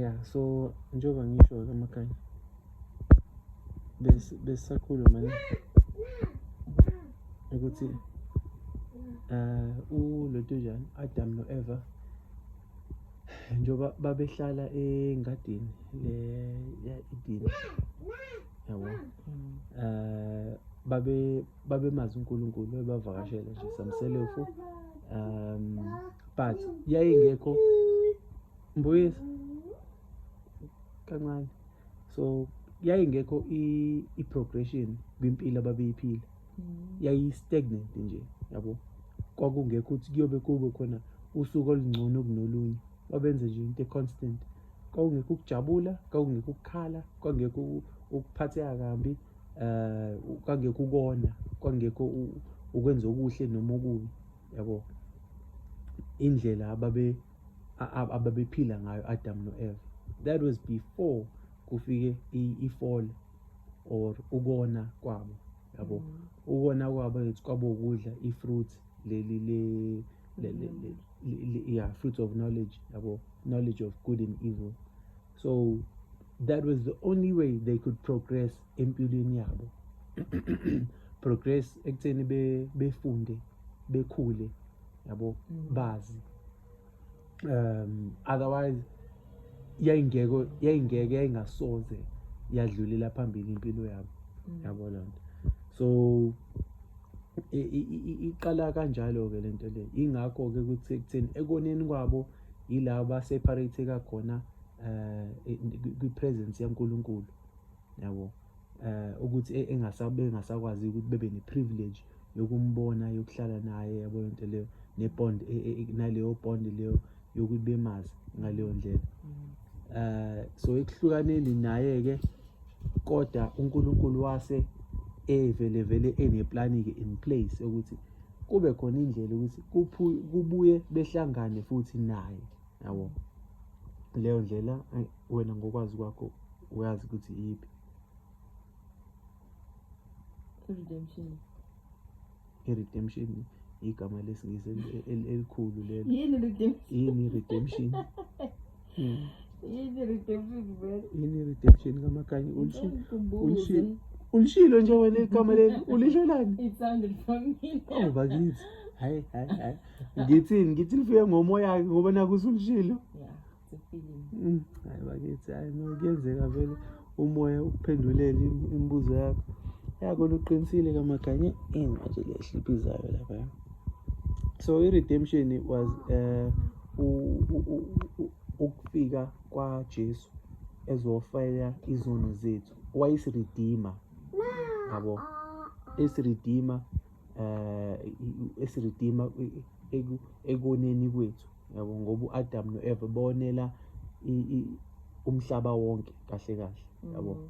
ya so njengoba ngisho-ke amakhanya besisakhuluma ne ukuthi um uloto njani adam no-eva njengoba babehlala engadini le ya-edini yabo um babe babemazi uNkulunkulu ebavakashela nje samselefu um but yayingekho mbuyisa kancane so yayingekho i-progression kwimpilo ababeyiphila mm. yayi-stagnant nje yabo kwakungekho ukuthi kuyobe kube khona usuku olungcono kunolunye babenze nje into e-constant kwakungekho ukujabula kwakungekho ukukhala kwakungekho ukuphatheka kambi eh kwangekho ukona kwangekho ukwenza okuhle noma okubi yabo indlela ababe ababephila ngayo Adam noEva that was before kufike ifall or ukona kwabo yabo mm. ukona kwabo ethi kwabo ukudla ifruit leli le le le yeah fruit of knowledge yabo knowledge of good and evil so that was the only way they could progress empilweni yabo progress ekutheni befunde bekhule yabo mm. bazi um otherwise yayingeke yayingeke yayingasoze yadlulela phambili impilo yabo mm. yabo lonto so iqala kanjalo ke lento le ingakho ke kuthi ekutheni ekoneni kwabo yila baseparateka khona um kwi-presence yankulunkulu yabo um ukuthi e, engasakwazi ukuthi bebe ne-privilege yokumbona yokuhlala naye yabo yonto leyo ne-bond e, e, naleyo bond leyo yokuthi bemazi ngaleyo ndlela um so ekuhlukaneni naye-ke kodwa unkulunkulu wase evele vele eneplani-ke in place ukuthi kube khona indlela ukuthi kubuye behlangane futhi naye yabo leyo ndlela wena ngokwazi kwakho uyazi ukuthi iyiphi redemption i-redemption igama lesingisi elikhulu lelo yini redemption Hmm. Yini redemption vele? Yini redemption kamakanye ulishilo. Ulishilo. Ulishilo nje wena igama leli ulisholani? It's under for me. Oh bakithi. Hayi hayi hayi. Ngithini ngithi nifike ngomoya ngoba nakusulishilo. Yeah, it's a feeling. Hmm. Hayi bakithi hayi no kuyenzeka vele. umoya ukuphendulele imibuzo yakho yako luqinisile kamaganye ini manje le ehliphizayo lapha so i-redemption was um ukufika kwajesu ezofela izono zethu wayesiridima yabo esiridima eh esiridima ekoneni kwethu yabo ngoba uAdam noEva bonela umhlaba wonke kahle kahle yabo mm.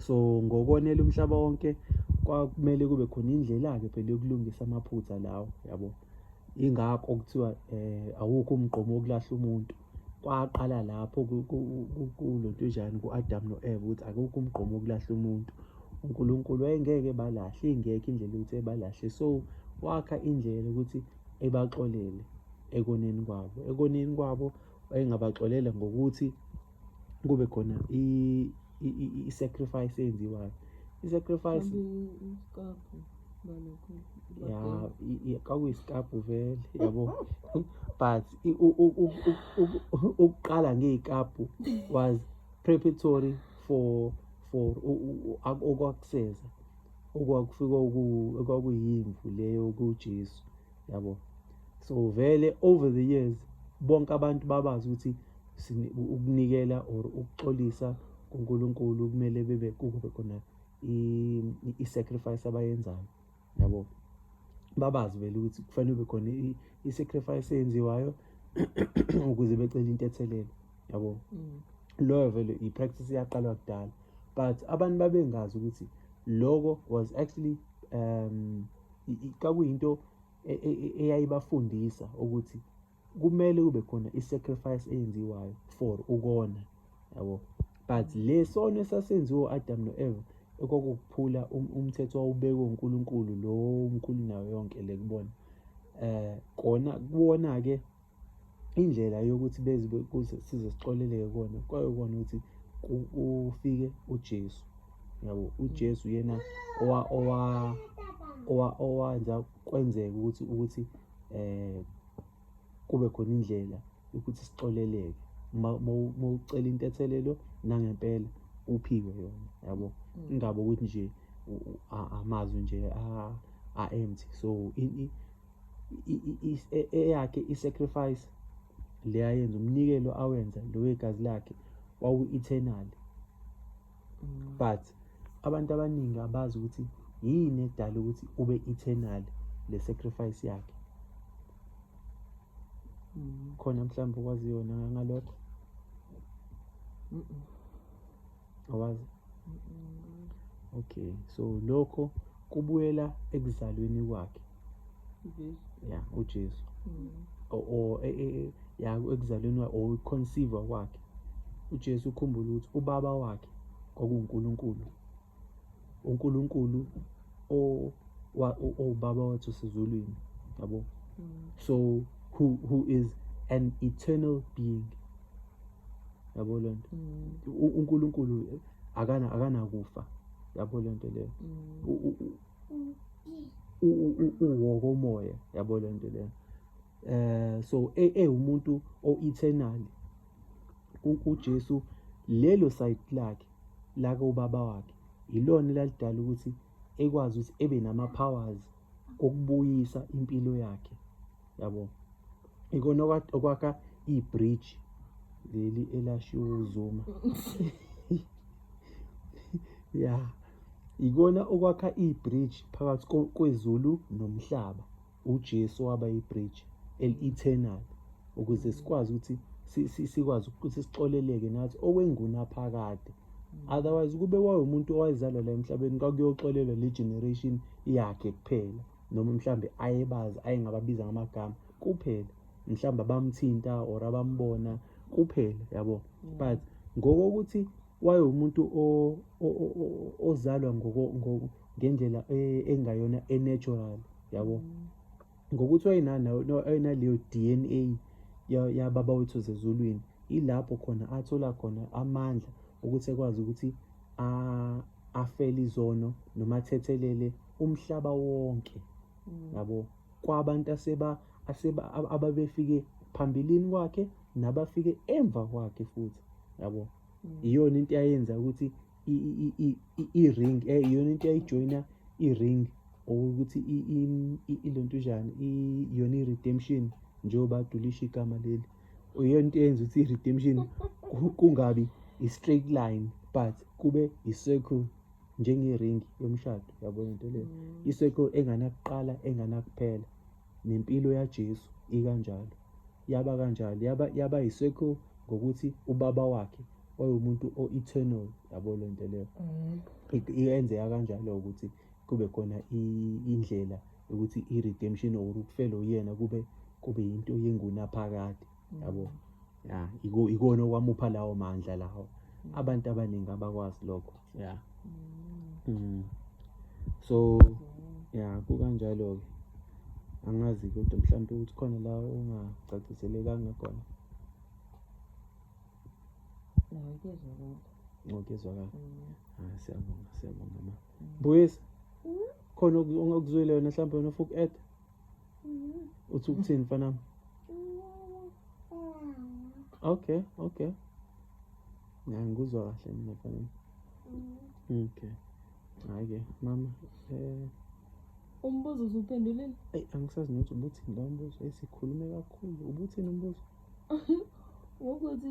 so ngokonela umhlaba wonke kwakumele kube khona indlela ke phela yokulungisa amaphutha lawo yabo ingakho kuthiwa eh awukho umgqomo wokulahla umuntu kwaqala lapho kulotujani ku-Adam no-Eva ukuthi akukho umgqomo wokulahla umuntu uNkulunkulu wayengeke balahle ingekho indlela ukuthi ebalahle so wakha indlela ukuthi ebaxolele ekoneni kwabo ekoneni kwabo wayengabaxolela ngokuthi kube khona i-sacrifice eyenziwayo i-sacrifice ya kawuyisikapu vele yabo but ukuqala ngey'kapu was preparatory for for okwakuseza okwakufika okwakuyimvu leyo kujesu yabo so vele over the years bonke abantu babazi ukuthi ukunikela or ukuxolisa kuNkulunkulu kumele bebe kube khona i-sacrifice abayenzayo yabo babazi vele ukuthi kufanele kube khona i-sacrifice eyenziwayo ukuze becele intethelelo yabo mm. loyo vele i-practice iyaqalwa kudala but abantu babengazi ukuthi loko was actually um kakuyinto e, e, e, eyayibafundisa ukuthi kumele kube khona i-sacrifice eyenziwayo for ukona yabo but le sono esasenziwa u-adam no-eva ekwakukuphula um, umthetho wawubekwe unkulunkulu lo mkhulu nayo yonke le kubona um kona kubona-ke indlela yokuthi bezibe kuze size sixoleleke kona kwayokona ukuthi ufike ujesu yabo ujesu yena owa owa owa owanza kwenzeka ukuthi ukuthi eh kube khona indlela ukuthi sixoleleke uma ucela into ethelelo nangempela uphiwe yona yabo mm. ingaba ukuthi nje amazwi nje a empty so e, eyakhe i-sacrifice le ayenza umnikelo awenza lo wegazi lakhe wawu-eternal mm. but abantu abaningi abazi ukuthi yini edala ukuthi ube eternal le sacrifice yakhe mm. khona mhlawumbe okwazi yona ngalokho awazi okay so lokho kubuyela ekuzalweni kwakhe ya uJesu mm. or e, e, e, ya ekuzalweni wakhe or conceive kwakhe uJesu ukhumbula ukuthi ubaba wakhe kwakuNkulunkulu uNkulunkulu o owubaba wethu sizulwini yabo mm. so who who is an eternal being yabo lento mm. uNkulunkulu akana akanakufa yabo lento leyo uwokomoya yabo le nto lena eh so ewumuntu e, o-eternal uJesu lelo side lakhe laka ubaba wakhe yilona elalidala ukuthi ekwazi ukuthi ebe nama-powers okubuyisa impilo yakhe yabo ikona okwakha ibridge leli elashiwo uzuma ya ikona okwakha ibridge phakathi kwezulu nomhlaba uJesu waba ibridge eli-eternal ukuze sikwazi ukuthi sikwazi ukuthi sixoleleke nathi okwengunaphakade otherwise kube wawumuntu owazalwa la emhlabeni kwakuyoxolelwa le generation yakhe kuphela noma mhlawumbe ayebazi ayengababiza ngamagama kuphela mhlawumbe abamthinta or abambona kuphela yabo mm. but ngokokuthi wayewumuntu ozalwa ngendlela e-, engayona e-natural yabo mm. ngokuthi wayenaleyo d n a yababa wethu zezulwini ilapho khona athola khona amandla ukuthi ekwazi ukuthi afele izono noma athethelele umhlaba wonke yabo kwabantu aseba aseba ababefike phambilini kwakhe nabafike emva kwakhe futhi yabo mm. iyona into yayenza ukuthi i-ring eh, iyona into yayijoyina i-ring okuthi ilontujana iyona i-redemption njengoba adulisha igama leli iyona into eyenza ukuthi i-redemption kungabi i-straight line but kube i-circle njengeringi yomshado yabona into leyo mm. iseko enganakuqala enganakuphela nempilo yaJesu ikanjalo yaba kanjalo yaba yaba iseko ngokuthi ubaba wakhe wayewumuntu o-eternal yabo le nto leyo mm. iyenzeka kanjalo ukuthi kube khona indlela yokuthi i-redemption or ukufela uyena kube kube yinto yengunaphakade yabo ya iko ikona okwamupha lawo mandla lawo abantu abaningi abakwazi lokho ya mm. so ya kukanjalo ke angazi kodwa mhlawumbe ukuthi khona la ungacaciselekanga khona ngokuzwakala mm. ah, siyabonga siyabonga ma mm. buyisa khona okuzwile wena mhlawumbe wena ufuku add uthi ukuthini mfanami okay okay ya ngikuzwa kahle mina mfanami okay hhayi-ke mama um umbuzo uzuphendulile eyi angisazi nokuthi ubuthini la umbuzo esikhulume kakhulu ubuthini umbuzo ngokuthi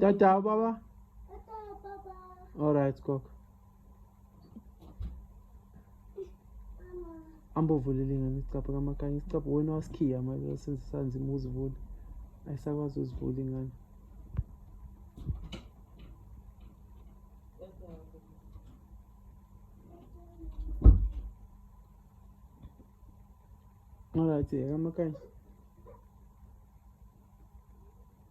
Tata baba. Alright kok. Ambovulele ngani isicapha kamakanye isicapha wena wasikhiya manje senze sanzima uzivule. Ayisakwazi uzivule ngani. Alright, kamakanye.